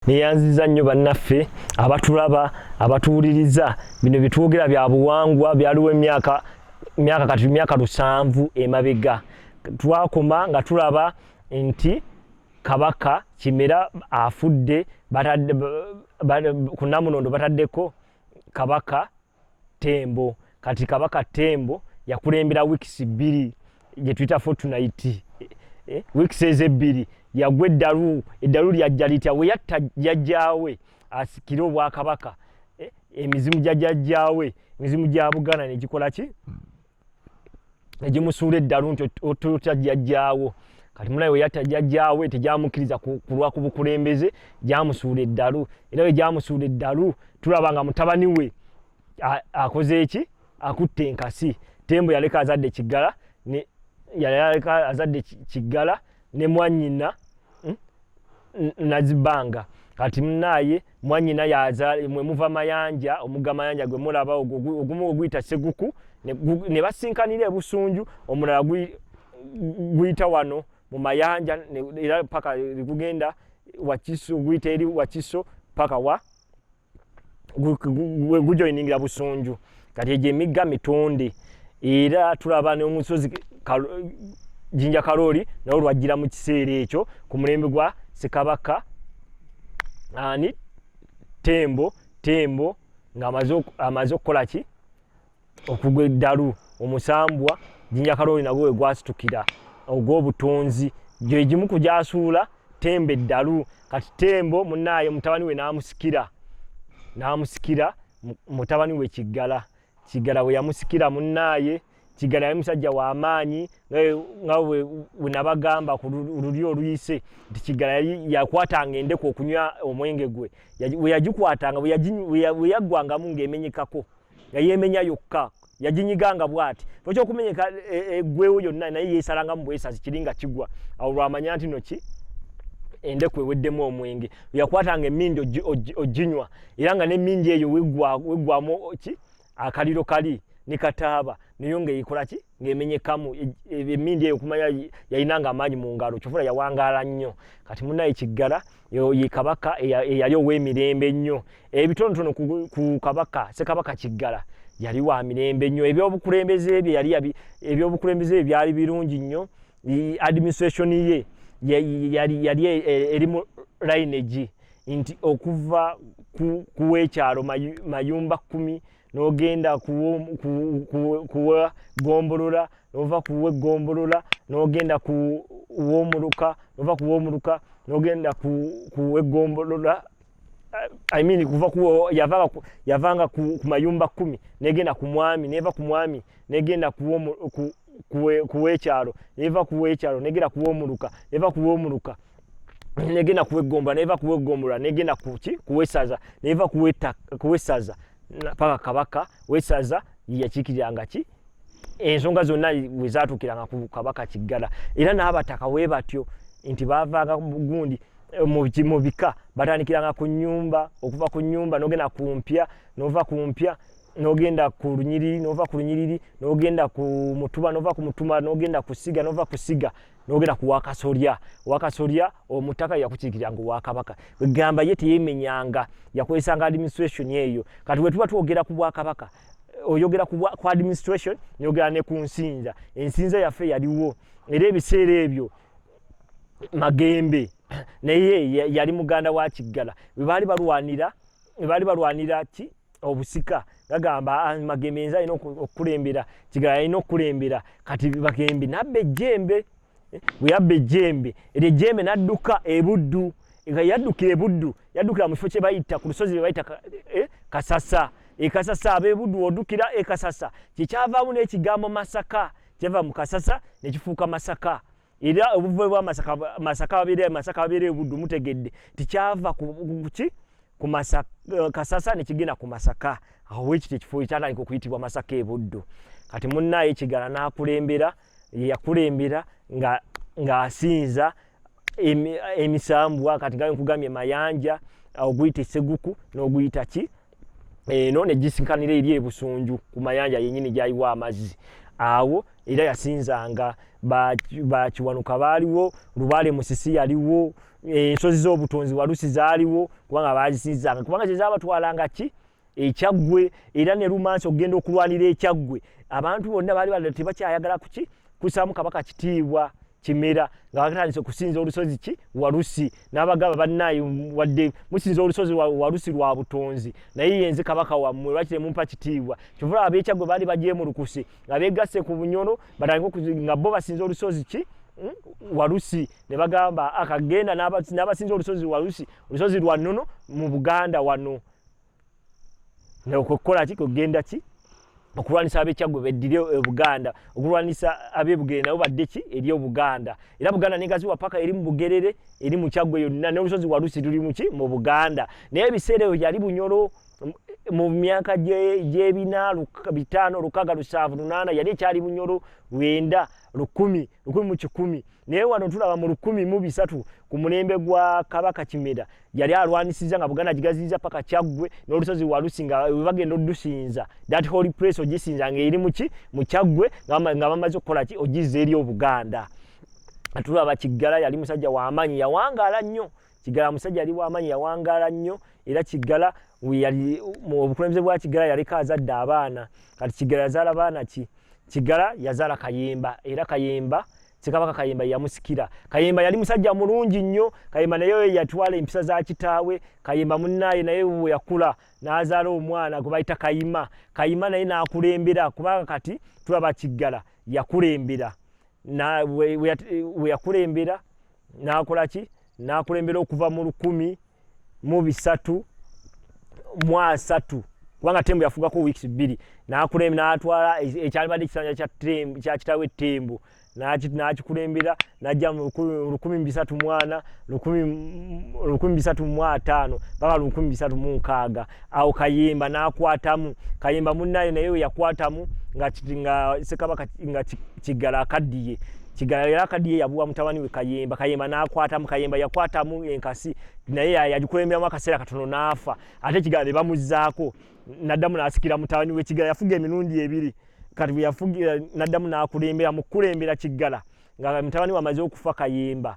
neyanziza nnyo bannaffe abatulaba abatuwuliriza bino byetwogera bya buwangwa byaliwo emyaka myaka kati myaka lusanvu emabega twakoma nga tulaba nti kabaka kimera afudde kunamunondo bataddeko kabaka tembo kati kabaka tembo yakulembera weeks bbiri gye tuyita fortnight eh, eh, weeks ezo ebbiri yagwa eddalu eddalu lyajja litya we yatta jajjaawe asikire obwakabaka eh, emizimu gya jajjaawe emizimu gya buganda negikola ki egimusuula eddalu nti ototya jjajjaawo kati mulayi weyata jjajjaawe tegyamukkiriza kulwa ku bukulembeze gyamusuula eddalu era we gyamusuula eddalu tulaba nga mutabani we akoze eki akutte enkasi tembo yaleka azadde kiggala yaleka azadde kiggala ne mwanyina hmm, nazibanga kati munaye mwanyina yaza mwe muva mayanja omuga mayanja gwe mulaba ogumu oguyita seguku ne basinkanira ebusunju omulala guyita wano mu mayanja era paka ligugenda wakiso guyita eri wakiso paka wa gujoiningira busunju kati egyo emigga mitonde era tulaba nomusozi jinja kalooli nawo lwajjira mu kiseera ekyo ku mulembe gwa sekabaka ani tembo tembo nga amaze okukola ki okugwa eddalu omusambwa jinja kalooli nagwo we gwasitukira ogw'obutonzi gye gimu ku gyasuula tembe eddalu kati tembo munaaye mutabani we n'amusikira n'amusikira mutabani we kiggala kiggala we yamusikira munaaye kiggala yali musajja w'amaanyi nga we nabagamba ku luli oluyise nti kiggala yakwatanga endeku okunywa omwenge gwe we yagikwatanga we yaggwangamu ng'emenyekako nga yemenya yokka yajinyiga nga bwati toki okumenyeka egwewo e, yonna naye yesalanga mubwesazi kiri nga kigwa awo lwamanya nti noki endeku eweddemu omwenge yakwatanga emindi oginywa era nga nemindi eyo wegwamu ki akaliro kali nekataaba nayo nga ekolaki ngaemenyekamu e, e, emindi eyo kumanya yayinanga amaanyi mu ngalo kyofuna yawangaala nnyo kati munaye kiggala ye kabaka eyali ow'emirembe ennyo ebitonotono ku kabaka sekabaka kiggala yali wa mirembe nnyo ebyobukulembeze bye yali ebyobukulembeze bye byali birungi nnyo administration ye yali yali e, e, eri mu lineage nti okuva ku kuwekyalo mayumba kumi nogenda kuwa gombolola nova kuwa egombolola nogenda kuwa omuluka nova kuwa omuluka nogenda kuwa egombolola I mean kuva ku yavanga ku, yavanga ku, ku mayumba kumi negenda ku mwami neva ku mwami negenda ku ku kuwekyalo neva kuwekyalo negera kuwomuluka neva kuwomuluka negenda kuwegombola neva kuwegombola negenda kuki kuwesaza neva kuweta kuwesaza paka kabaka wesaza yakikiranga ki ensonga zonna wezatukiranga ku kabaka kiggala era n'abataka we batyo nti bavanga gundi eh, mu bika batandikiranga ku nyumba okuva ku nyumba nogenda ku mpya nova ku mpya nogenda ku lunyiriri nova ku lunyiriri nogenda ku mutuba nova ku mutuma nogenda ku siga nova ku siga nogenda ku wakasolya wakasolya omutaka yakukiikiranga owakabaka egamba ye teyemenyanga yakozesanga administration eyo kati wetuba twogera ku bwakabaka oyogera ku administration nyogera ne ku nsinza ensinza yaffe yaliwo era ebiseera ebyo magembe naye yali muganda wa kiggala webaali balwanira webaali balwanira ki obusika gagamba ah, magembe yenza alina okukulembera kigala alina okukulembera kati bagembe nabba ejjembe eh, weyabba ejjembe eryo ejjembe nadduka ebuddu nga yaddukira ebuddu yaddukira mu kifo kye bayita ku lusozi lwe bayita eh, kasasa ekasasa abebuddu oddukira ekasasa kyekyavaamu n'ekigambo masaka kyava mu kasasa nekifuuka masaka era obuvume bwa masaka masaka babire masaka babire gudu mutegedde tikyava kuki ku masaka eh, kasasa ne kigina ku masaka aho wiki tekifo ikyana iko kuitibwa masaka ebuddu kati munna ekigala na kulembera ya kulembera nga nga asinza emisambwa kati gayo kugamye mayanja oguyita seguku no guyita ki eno ne gisikanira eri ebusunju ku mayanja yenyini gyayiwa amazzi awo era yasinzanga bakiwanuka baaliwo lubaale musisi yaliwo ensozi z'obutonzi walusi zaaliwo kubanga baazisinzanga kubanga kyezabatwalanga ki ekyaggwe era ne lumansi okugenda okulwanira ekyaggwe abantu bonna baali bada tebakyayagala kuki kusaamu kabaka kitiibwa kimera nga batandise okusinza olusozi ki walusi n'abagaba bannaayi wadde musinza olusozi walusi lwa butonzi naye yenze kabaka wammwe lwaki temumpa kitiibwa kyovula abeekyaggwe baali bagyemulukuse nga beegasse ku bunyolo batandike nga bo basinza olusozi ki Hmm? walusi ne bagamba akagenda n'abasinza olusozi walusi olusozi lwa nnono mu buganda wano okukola ki kugenda ki okulwanisa abekyaggwe beddire obuganda e, okulwanisa abebugerere nabo badde ki eri obuganda era buganda negaziwa paka eri mu bugerere eri mu kyaggwe yonna n'olusozi walusi luli muki mu buganda naye ebiseera ebyo yali bunyolo mu myaka gyebina bitaano lukaga lusanvu lunaana yali ekyali bunyolo lwenda lukumi lukumi mu kikumi naye wano tulaba mu lukumi mu bisatu ku mulembe gwa kabaka kimera yali alwanisiza nga buganda gigaziiza paka kyaggwe n'olusozi walusi nga webagenda odusinza that holy place ogisinza nga eri muki mu kyaggwe nga bamaze okukola ki ogizza eri obuganda tulaba kiggala yali musajja w'amaanyi yawangaala nnyo kigala musajja ali wamanyi yawangala nnyo era kigala yali mu obukulembeze bwa kigala yaliko azadde abaana kati kigala yazaala baana ki kigala yazaala kayemba era kayemba sekabaka kayemba yamusikira kayemba yali musajja mulungi nnyo kayemba naye yatwala empisa za kitaawe kayemba munnaye naye we yakula n'azaala omwana gwe bayita kayima kayima naye n'akulembera kubanga kati tulaba kiggala yakulembera weyakulembera nakolaki nakulembera okuva mu lukumi mu bisatu mu asatu kubanga tembo yafugako weeks bbiri nakulembera natwala ekyalibadde ekisanja kya kitawe tembo nakikulembera najja lukumi mubisatu mwana lukumi bisatu mwataano paka lukumi bisatu munkaaga awo kayimba nakwatamu kayimba munaye naye weyakwatamu nga nga sekabaka nga kigala akaddiye kigala era akaddiye yabuwa mutabani we kayimba kayimba nakwatamu kayimba yakwatamu enkasi naye yagikulemberamu akaseera katono naafa ate kigala ne bamuzaako naddamu nasikira mutabani we kigala yafuga emirundi ebiri kati bweyafugira naddamu nakulembera mukukulembera kiggala nga mutabani wamaze okufa kayimba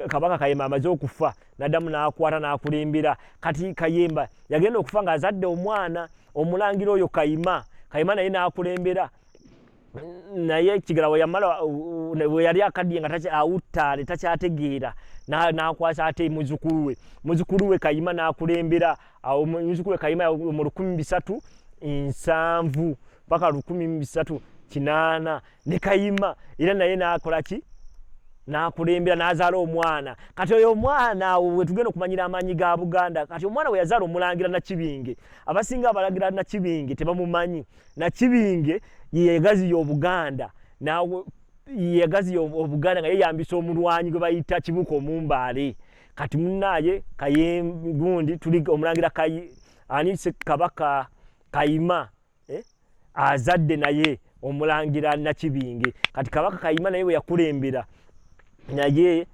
kabanga kayemba amaze okufa nadamu nakwata nakulimbira kati kayemba yagenda okufa nga azadde omwana omulangira oyo kayima kayima naye nakulembera naye kigala weyamala weyali akaddiye nga awuttaale takyategeera nakwasa ate muzukulu we muzukulu we kayima nakulembera awo muzukulu we kayima mu lukumi bisatu nsanvu paka lukumi mubisatu kinaana ne kayima era naye nakola ki nakulembera nazaala omwana kati oyo omwana awo wetugenda okumanyira amaanyi ga buganda kati omwana weyazaala omulangira nakibinge abasinga abalagira nakibinge tebamumanyi nakibinge yeyegaziya obuganda yeyegaziya obuganda nga yeyambisa omulwanyi gwe bayita kibuka omumbaale kati munaye kayegundi tuli omulangira ani kabaka kayima eh? azadde naye omulangira nakibinge kati kabaka kayima naye weyakulembera naye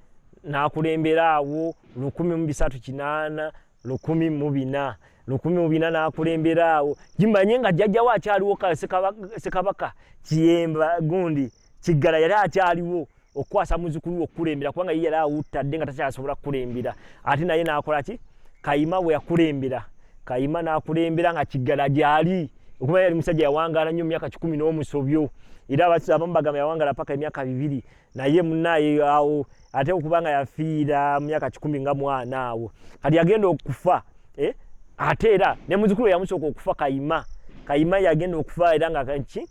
nakulembera awo lukumi mubisatu kinana lukumi mubina lukumi mubina nakulembera awo jimanye nga jajjawo akyaliwo sekabaka kiyemba gundi kiggala yali akyaliwo okukwasa muzukulu we okukulembera kubanga ye yali awuttadde nga takyasobola kukulembera ate naye n'akola ki kayima bwe yakulembera kayima n'akulembera nga kiggala gyali okuba yali musajja yawangaala nnyo emyaka kikumi n'omusobyo era abamu bagamba yawangaala paka emyaka bibiri naye munaye awo ate okuba nga yafiira mu myaka kikumi nga mwana awo kati yagenda okufa eh? ate era ne muzukulu yamusooka okufa kayima kayima yagenda okufa era nga ki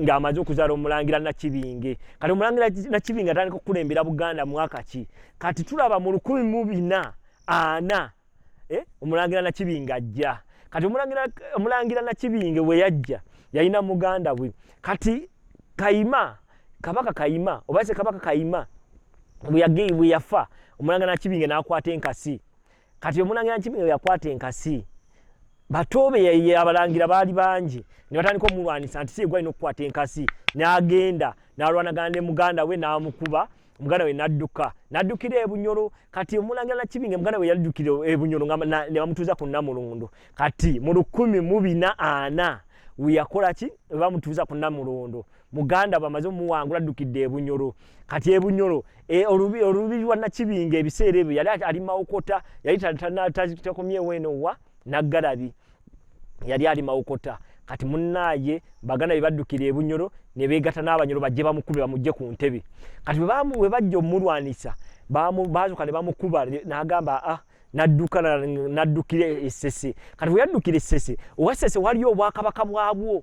ng'amaze okuzaala omulangira nakibinge kati omulangira nakibinge atandika okukulembera buganda mwaka ki kati tulaba mu lukumi mu bina ana eh? omulangira nakibinge ajja kati omulangira nakibinge weyajja yalina muganda bwe kati kayima kabaka kayima oba se kabaka kayima bweyagei bweyafa omulangira nakibinge nakwata enkasi kati omulangira nakibinge weyakwata enkasi batoobe abalangira baali bangi ne batandika omulwanisa nti si egwalina okukwata enkasi n'agenda n'alwanagana ne muganda we n'amukuba omuganda we nadduka naddukira ebunyolo kati omulangira nakibinge omuganda we yaddukira ebunyolo nebamutuuza ku namulundu kati mu lukumi mubina ana weyakola ki webamutuuza ku namulundu muganda bamaze omuwangula addukidde ebunyolo kati ebunyolo e, olubiri lwa nakibinge ebiseera ebyo yali ali mawokota yali takomyewo eno wa naggalabi yali ali mawokota kati munaye baganda bebaddukira ebunyoro nebegata n'abanyoro bajje bamukube bamujje ku ntebe kati bwe bajja omulwanisa bazuka ne bamukuba n'agamba a ah, nadduka naddukira essese kati bwe yaddukira essese owa ssese waliyo obwakabaka bwabwo